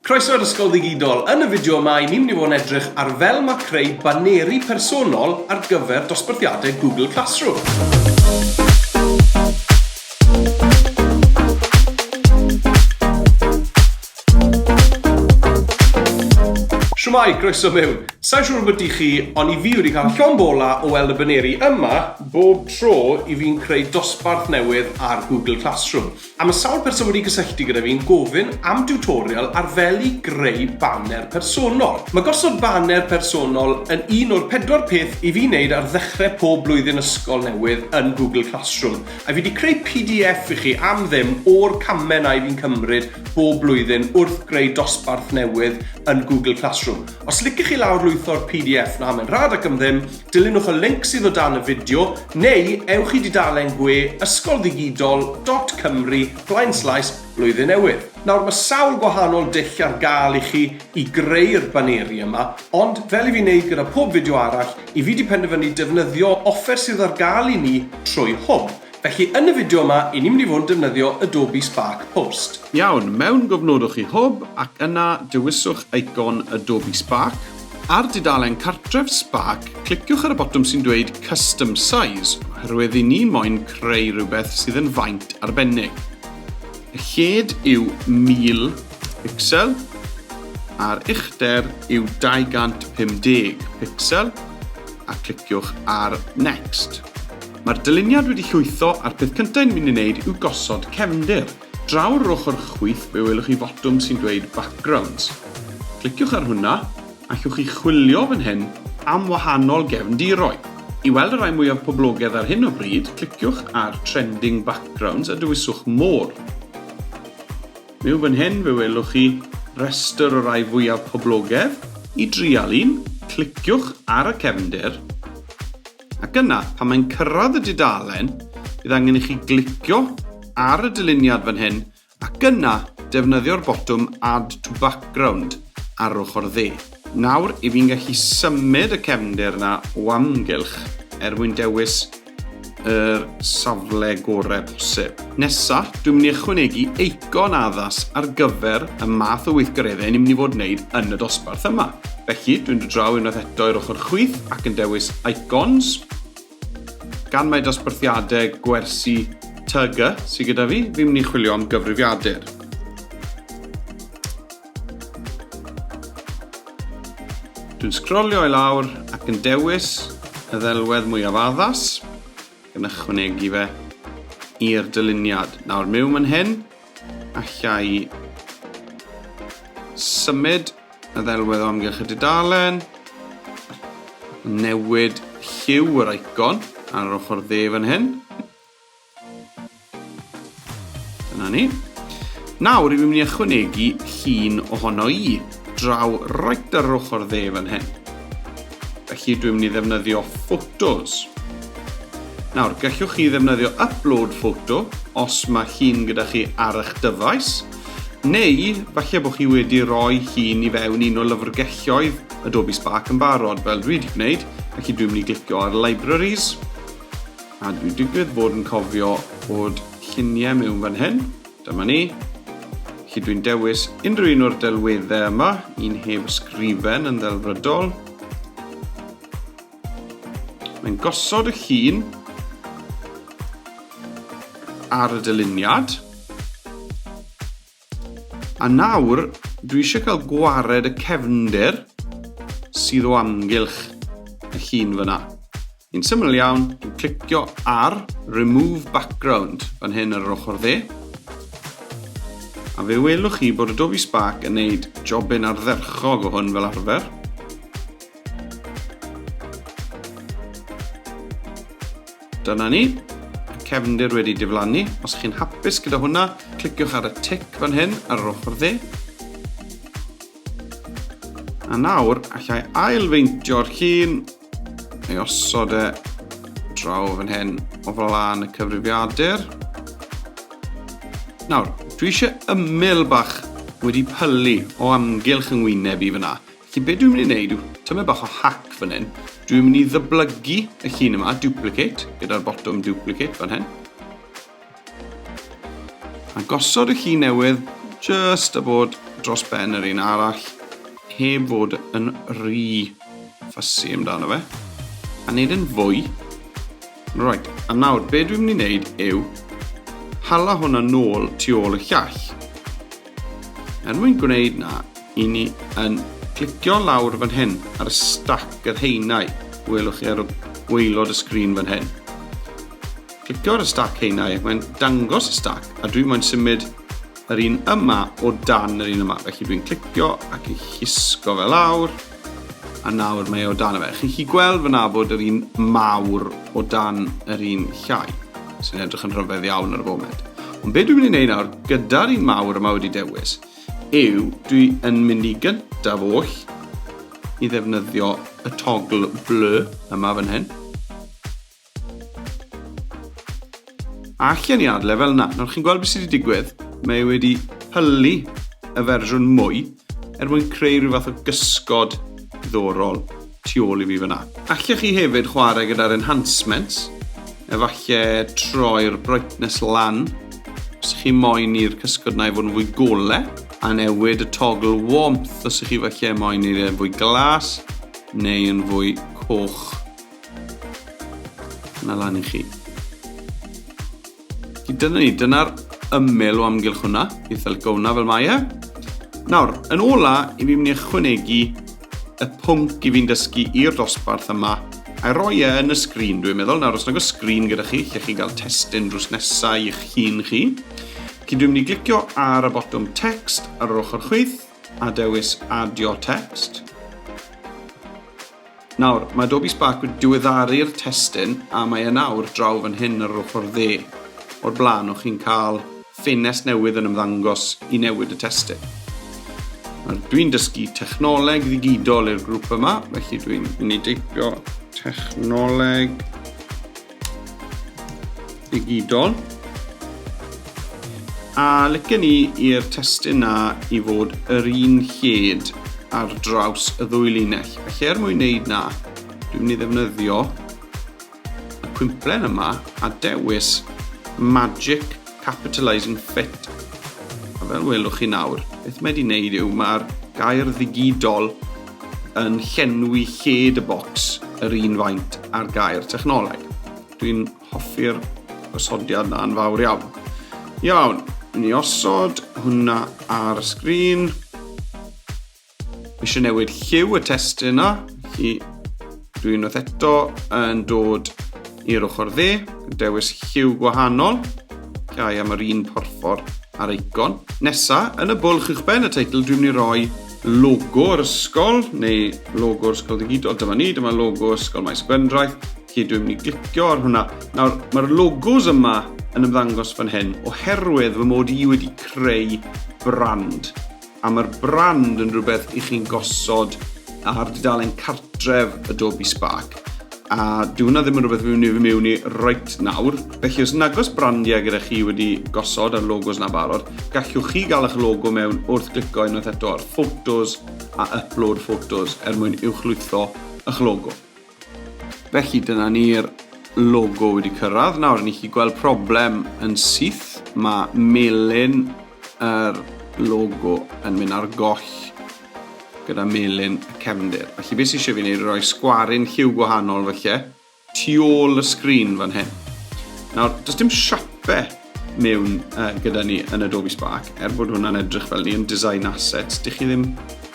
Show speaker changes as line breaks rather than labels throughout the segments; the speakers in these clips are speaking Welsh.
Croeso i'r Ysgol Ddigidol! Yn y fideo yma, i ni'n mynd i fod yn edrych ar fel mae creu baneri personol ar gyfer dosbarthiadau Google Classroom. Shwmae, croeso mewn! Sai'n siŵr ambyti chi, ond i fi wedi cael llond bola o weld y baneri yma bob tro i fi'n creu dosbarth newydd ar Google Classroom. A mae sawl person wedi cysylltu gyda fi'n gofyn am diwtorial ar fel i greu baner personol. Mae gosod baner personol yn un o'r pedwar peth i fi wneud ar ddechrau pob blwyddyn ysgol newydd yn Google Classroom, a fi 'di creu pdf i chi am ddim o'r camau 'na i fi'n cymryd bob blwyddyn wrth greu dosbarth newydd yn Google Classroom. Os licech chi lawrlwytho'r pdf 'na mae'n rhad ac am ddim, dilynwch y linc sydd o dan y fideo, neu ewch i dudalen gwe ysgolddigidol.cymru blaenslaes Blwyddyn Newydd. Nawr, mae sawl gwahanol dull ar gael i chi i greu'r baneri yma, ond fel i fi wneud gyda pob fideo arall, i fi 'di penderfynu defnyddio offer sydd ar gael i ni trwy hwb. Felly yn y fideo yma i ni'n mynd i fod yn defnyddio Adobe Spark Post. Iawn, mewn
gofnodwch i Hwb ac yna dewiswch eicon Adobe Spark. Ar dudalen cartref Spark, cliciwch ar y botwm sy'n dweud Custom Size oherwydd i ni moyn creu rhywbeth sydd yn faint arbennig. Y lled yw 1000 picsel a'r uchder yw 250 picsel a cliciwch ar Next. Mae'r dyluniad wedi llwytho a'r peth cyntaf yn mynd i wneud yw gosod cefndir. Draw yr ochr chwith fe welwch chi fotwm sy'n dweud Backgrounds. Cliciwch ar hwnna, allwch chi chwilio fan hyn am wahanol gefndiroedd. I weld y rhai mwyaf poblogedd ar hyn o bryd, cliciwch ar Trending Backgrounds a dewiswch More. Myw fan hyn fe welwch chi restr o rai fwyaf poblogedd. I drial un, cliciwch ar y cefndir. Ac yna, pan mae'n cyrraedd y dudalen, bydd angen i chi glicio ar y dyluniad fan hyn ac yna defnyddio'r botwm Add to Background ar ochr dde. Nawr, i fi'n gallu symud y cefndir yna o amgylch er mwyn dewis yr safle gorau posib. Nesa, dwi'n mynd i ychwanegu eicon addas ar gyfer y math o weithgareddau ni'n mynd i fod yn neud yn y dosbarth yma. Felly, dwi'n dod draw unwaith eto i'r ochr chwith ac yn dewis Icons, gan mai dosbarthiadau gwersi TG sydd gyda fi, fi'n mynd i chwilio am gyfrifiadur. Dwi'n sgrolio i lawr ac yn dewis y ddelwedd mwyaf addas. yn ychwanegu fe i'r dyluniad. Nawr, mewn man hyn, allai symud y ddelwedd o amgylch y dudalen, newid lliw yr icon ar yr ochr dde fan hyn, Dyna ni. Nawr, rwy'n mynd i ychwanegu llun ohono i, draw roed ar yr ochr dde fan hyn. Felly, dwi'n mynd i ddefnyddio photos. Nawr, gallwch chi ddefnyddio upload photo os mae llun gyda chi ar eich dyfais, neu falle bod chi wedi rhoi llun i fewn un o lyfrgelloedd Adobe Spark yn barod, fel dwi wedi gwneud, felly dwi'n mynd i glicio ar Libraries, A dwi digwydd bod yn cofio bod lluniau mewn fan hyn. Dyma ni. Felly dwi'n dewis unrhyw un o'r delweddau yma, un heb ysgrifen yn ddelfrydol. Mae'n gosod y llun ar y dyluniad. A nawr, dwi eisiau cael gwared y cefnder sydd o amgylch y llun fyna. Yn syml iawn, dwi'n clicio ar Remove Background fan hyn ar yr ochr dde, a fe welwch chi bod Adobe Spark yn neud jobyn ardderchog o hwn fel arfer. Dyna ni, mae cefndir wedi diflannu. Os chi'n hapus gyda hwnna, cliciwch ar y tic fan hyn ar yr ochr dde. A nawr, allai ailfeintio'r llun, ei osod e draw fan hyn o flaen y cyfrifiadur. Nawr, dwi eisiau ymyl bach wedi pylu o amgylch yng ngwyneb i fyna. Felly be dwi'n mynd i wneud yw tymed bach o hack fan hyn. Dwi'n mynd i ddyblygu y llun yma, duplicate, gyda'r botwm duplicate fan hyn. A gosod y llun newydd just a bod dros ben yr un arall heb fod yn rhy ffysu amdano fe a wneud yn fwy Right, a nawr, be dwi'n mynd i wneud yw hala hwnna nôl tu ôl y llall. Er mwyn gwneud na, i ni yn clicio lawr fan hyn ar y stac yr haenau welwch chi ar y gwaelod y sgrin fan hyn. Clicio ar y stac haenau ac mae'n dangos y stac a dwi moyn symud yr un yma o dan yr un yma. Felly dwi'n clicio ac yn llusgo fe lawr. A nawr mae e o dan y fe. Chi'n chi gweld fyna bod yr un mawr o dan yr un llai, sy'n edrych yn rhyfedd iawn ar y foment. Ond be dwi'n mynd i wneud nawr, gyda'r un mawr yma wedi dewis, yw dwi yn mynd i gyntaf oll i ddefnyddio y togl bleu yma fan hyn. Allen i adle fel yna. Nawr chi'n gweld beth sydd wedi digwydd? Mae e wedi pylu y fersiwn mwy er mwyn creu rhyw fath o gysgod ddorol tu ôl i fi fyna. Allech chi hefyd chwarae gyda'r enhancements, efallai troi'r brightness lan os ych chi moyn i'r cysgod na i fod yn fwy gole, a newid y toggle warmth os ych chi falle moyn i'r e fwy glas neu yn fwy coch. Dyna lan i chi. Felly dyna ni, dyna'r ymyl o amgylch hwnna, beth fel gowna fel mae e. Nawr, yn ola, i fi'n mynd i ychwanegu y pwnc i fi'n dysgu i'r dosbarth yma, a roi e yn y sgrin, dwi'n meddwl. Nawr, os nag o sgrin gyda chi, lle chi gael testyn drws nesau i'ch hun chi, Felly dwi'n mynd i glicio ar y botwm text ar yr ochr chwith a dewis adio text. Nawr, mae Adobe Spark wedi diweddaru'r testun a mae e nawr draw fan hyn ar yr ochr dde. O'r blaen, o'ch chi'n cael ffenest newydd yn ymddangos i newid y testun. Nawr, dwi'n dysgu technoleg ddigidol i'r grŵp yma, felly dwi'n mynd i deipio technoleg digidol. A lyca ni i'r testyn na i fod yr un lled ar draws y ddwy linell. Felly er mwyn wneud na, dwi'n mynd i ddefnyddio y cwimplen yma a dewis Magic Capitalizing Fit. A fel welwch chi nawr, beth mae wedi wneud yw mae'r gair ddigidol yn llenwi lled y bocs yr un faint â'r gair technoleg. Dwi'n hoffi'r osodiad na yn fawr iawn. Iawn, ni osod hwnna ar y sgrin. Eisiau newid lliw y test yna, felly dwi'n unwaith eto yn dod i'r ochr dde, dewis lliw gwahanol, llai am yr un porffor ar eicon. Nesa, yn y bwlch uwchben y teitl dwi'n mynd i roi logo'r ysgol, neu logo'r ysgol digidol. Dyma ni, dyma logo ysgol Maes Gwendraeth. Felly dwi'n mynd i glicio ar hwnna. Nawr, mae'r logos yma yn ymddangos fan hyn, oherwydd fy mod i wedi creu brand. A mae'r brand yn rhywbeth i chi'n gosod ar dudalen cartref Adobe Spark. a dyw hwnna ddim yn rhywbeth fi'n mynd i mewn i right nawr. Felly os nagos brandiau gyda chi wedi gosod ar logos na barod, gallwch chi gael eich logo mewn wrth glicio unwaith eto ar Photos a Upload Photos er mwyn uwchlwytho eich logo. Felly dyna ni'r logo wedi cyrraedd. Nawr, ni chi gweld problem yn syth. Mae melin yr logo yn mynd ar goll gyda melyn y cefndir. Felly beth sy'n eisiau fi wneud yw rhoi sgwarin lliw gwahanol felly tu ôl y sgrin fan hyn. Nawr, does dim siape mewn uh, gyda ni yn Adobe Spark, er bod hwnna'n edrych fel ni yn Design Assets, dych chi ddim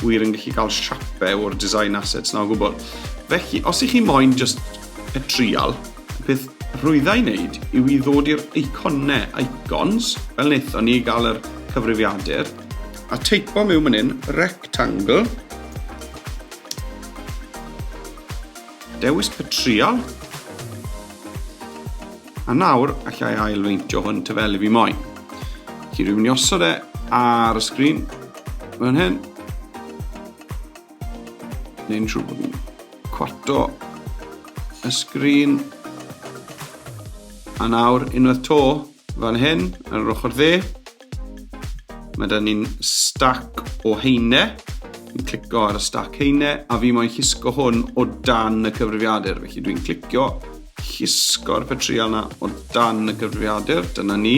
wir yn gallu cael siape o'r Design Assets na o gwbl. Felly, os ych chi moyn just y trial, peth rhwyddau i wneud yw i ddod i'r eiconau, icons, fel wnaethon ni gael yr cyfrifiadur, A teipo mewn man hyn, rectangle. Dewis petriol. A nawr, allai ailfeintio hwn ty fel i fi moyn. Chi rwy'n ni osod e ar y sgrin, fan hyn. Neu'n siŵr bod yn cwarto y sgrin. A nawr, unwaith to, fan hyn, ar yr ochr dde, Mae da ni'n stac o heine. Dwi'n clicio ar y stac heine a fi moyn llusgo hwn o dan y cyfrifiadur. Felly dwi'n clicio llusgo'r petrial na o dan y cyfrifiadur. Dyna ni.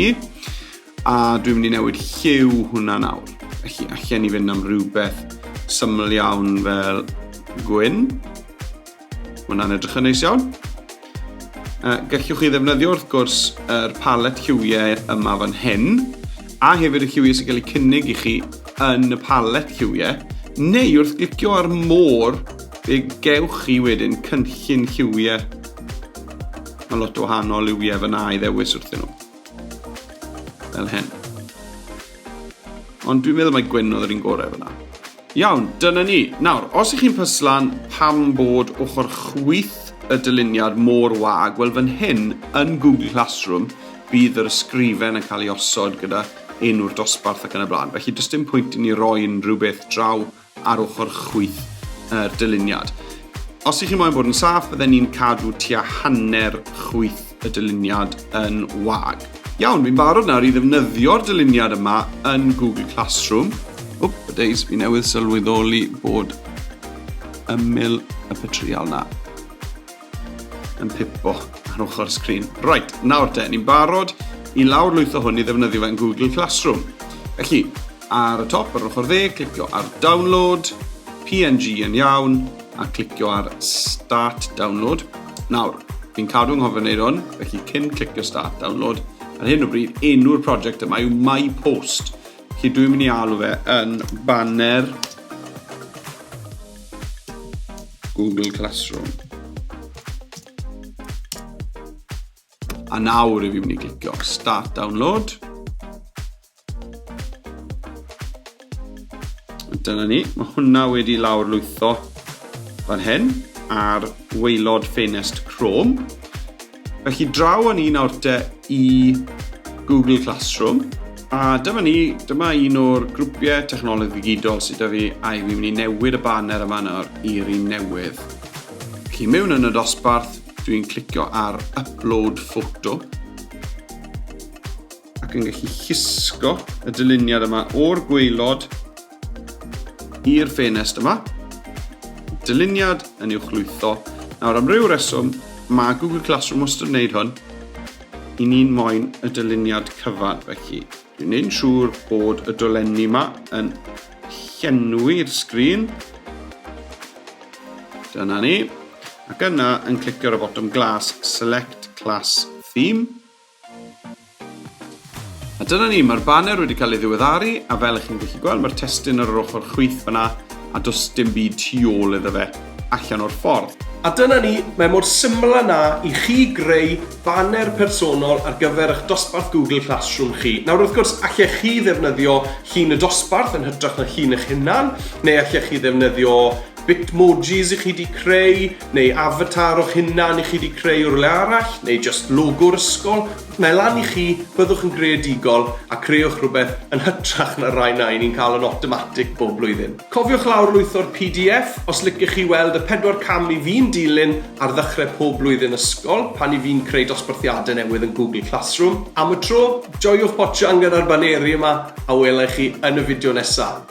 A dwi'n mynd i newid lliw hwnna nawr. Felly allan i fynd am rhywbeth syml iawn fel gwyn. Mae hwnna'n edrych yn neis iawn. Uh, gallwch chi ddefnyddio wrth gwrs yr er palet lliwiau yma fan hyn, a hefyd y lliwiau sy'n cael eu cynnig i chi yn y palet lliwiau, neu wrth glicio ar môr, fe gewch chi wedyn cynllun lliwiau. Mae lot o wahanol liwiau fyna i ddewis wrthyn nhw. Fel hyn. Ond dwi'n meddwl mae gwyn oedd yr un gorau fyna. Iawn, dyna ni. Nawr, os ych chi'n pyslan pam bod ochr chwith y dyluniad mor wag, wel fan hyn, yn Google Classroom, bydd yr ysgrifen yn cael ei osod gyda enw'r dosbarth ac yn y blaen. Felly, does dim pwynt i ni roi unrhyw beth draw ar ochr chwith yr dyluniad. Os ych chi'n moyn bod yn saff, bydden ni'n cadw tua hanner chwith y dyluniad yn wag. Iawn, fi'n barod nawr i ddefnyddio'r dyluniad yma yn Google Classroom. Wp, y days, fi newydd sylweddoli bod ymyl y petrial na yn pipo ar ochr y sgrin. Right, nawr te, ni'n barod i lawr lwytho hwn i ddefnyddio fe yn Google Classroom. Felly, ar y top, ar ochr dde, clicio ar Download, PNG yn iawn, a clicio ar Start Download. Nawr, fi'n cadw yng nghofio wneud hwn, felly cyn clicio Start Download, ar hyn o bryd, enw'r prosiect yma yw My Post. Felly dwi'n mynd i alw fe yn banner Google Classroom. A nawr i fi mynd i clicio Start Download. Dyna ni, mae hwnna wedi lawr lwytho fan hyn ar weilod ffenest Chrome. Felly draw o'n un awr te i Google Classroom. A dyma ni, dyma un o'r grwpiau technoleg ddigidol sydd da fi a i fi'n mynd i newid y banner yma nawr i'r un newydd. Felly mewn yn y dosbarth, dwi'n clicio ar Upload Photo. ac yn gallu llusgo y dyluniad yma o'r gweilod i'r ffenest yma. Dyluniad yn i'w chlwytho. Nawr, am ryw reswm, mae Google Classroom wastad yn gwneud hwn. I ni'n moyn y dyluniad cyfan, felly. Dwi'n neud siŵr bod y dolenni yma yn llenwi'r sgrin. Dyna ni. Ac yna yn clicio ar y bottom glas, select class theme. A dyna ni, mae'r baner wedi cael ei ddiweddaru, a fel ych chi'n gallu gweld, mae'r testun ar yr ochr chwith fyna, a does dim byd tu ôl iddo fe, allan o'r ffordd. A dyna ni,
mae mor syml â 'na i chi greu baner personol ar gyfer eich dosbarth Google Classroom chi. Nawr, wrth gwrs, allech chi ddefnyddio llun y dosbarth yn hytrach na llun eich hunan, neu allech chi ddefnyddio Bitmojis i chi 'di creu, neu avatar o'ch hunan i chi 'di creu o rywle arall, neu jyst logo'r ysgol, mae lan i chi, byddwch yn greadigol a creuwch rhywbeth yn hytrach na'r rhai na 'yn ni'n cael yn awtomatig bob blwyddyn. Cofiwch lawrlwytho'r pdf os licech chi weld y pedwar cam i fi'n dilyn ar ddechrau pob blwyddyn ysgol pan i fi'n creu dosbarthiadau newydd yn Google Classroom. Am y tro, joiwch botsian gyda'r baneri yma a wela i chi yn y fideo nesaf.